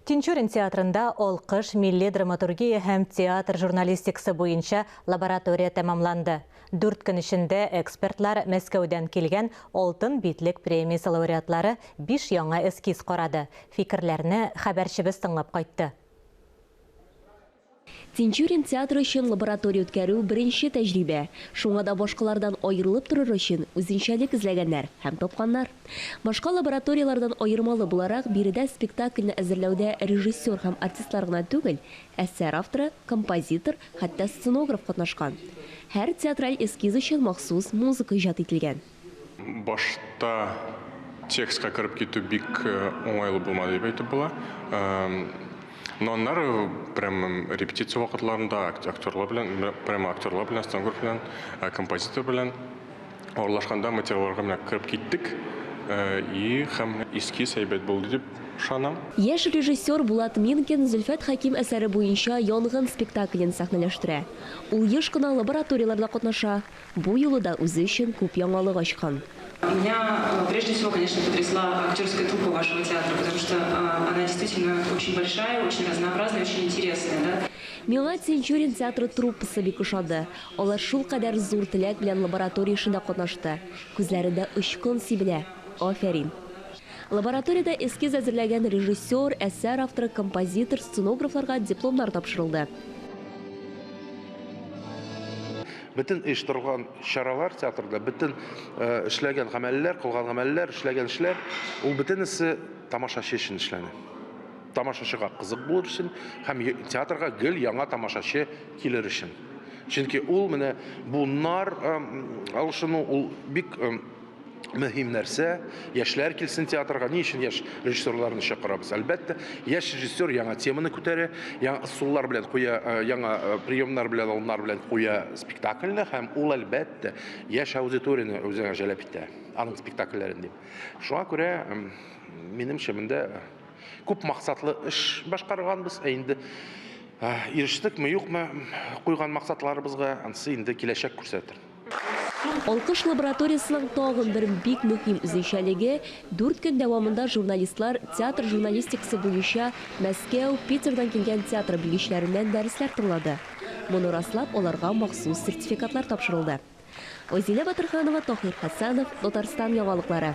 Тинчурин театрында алкыш милли драматургия һәм театр журналистикасы буенча лаборатория тәмамланды. Дүрт көн эчендә экспертлар Мәскәүдән килгән Алтын битлек премиясе лауреатлары биш яңа эскиз карады, фикерләрне хәбәрчебез тыңлап кайтты. Тинчурин театры өчен лаборатория үткәрү, беренче тәҗрибә. Шуңа да башкалардан аерылып торыр өчен, үзенчәлек эзләгәннәр һәм тапканнар. Башка лабораторияләрдән аермалы буларак, биредә спектакльне әзерләүдә режиссер һәм артистлар гына түгел, әсәр авторы, композитор, хәтта сценограф катнашкан. Һәр театраль эскиз өчен махсус музыка иҗат ителгән. Башта текстка кереп китү бик уңайлы булмады дип әйтеп була. Но аннары прямо репетиция вакытларында актерлар белән, прямо актерлар белән, стангур белән, композитор белән аралашканда материалларга менә кереп киттек. И һәм эскиз әйбәт булды дип ышанам. Яшь режиссер Булат Минкин Зөлфәт Хәким әсәре буенча Янгын спектаклен сәхнәләштерә. Ул еш кына лабораторияләрдә катнаша, Бу юлы да үзе өчен күп яңалык ачкан. Меня прежде всего, конечно, потрясла актерская труппа вашего театра, потому что она действительно очень большая, очень разнообразная, очень интересная, да. Миңа Тинчурин театры труппасы бик ошады. Алар шулкадәр зур теләк белән лаборатория эшендә катнашты. Күзләрендә очкын сибелә. Афәрин! Лабораториядә эскиз әзерләгән режиссер, әсәр авторы, композитор, сценографларга дипломнар тапшырылды. Бөтен оештырылган чаралар театрда, бөтен эшләгән гамәлләр, кылган гамәлләр, эшләгән эшләр, ул бөтенесе тамашачы өчен эшләнә. Тамашачыга кызык булыр өчен һәм театрга гел яңа тамашачы килер өчен. Чөнки ул менә буннар алышыну ул бик мөһим нәрсә, яшьләр килсен театрга. Ни өчен яшь режиссерларны чакырабыз? Әлбәттә, яшь режиссер яңа теманы күтәрә, яңа ысуллар белән куя, э, яңа э, приемнар белән, алымнар белән куя спектакльне һәм ул әлбәттә яшь аудиторияне үзенә җәлеп итә, аның спектакльләрен дип. Шуңа күрә минемчә монда күп максатлы эш башкарганбыз, ә инде э, ирештекме, юкмы куйган максатларыбызга, ансы инде киләчәк күрсәтер. Алкыш лабораториясенең тагын бер бик мөһим үзенчәлеге, дүрт көн дәвамында журналистлар театр журналистикасы буенча Мәскәү, Питердан килгән театр белгечләреннән дәресләр тыңлады. Моны раслап, аларга махсус сертификатлар тапшырылды. Озилә Батырханова, Таһир Хәсәнов, Татарстан яңалыклары.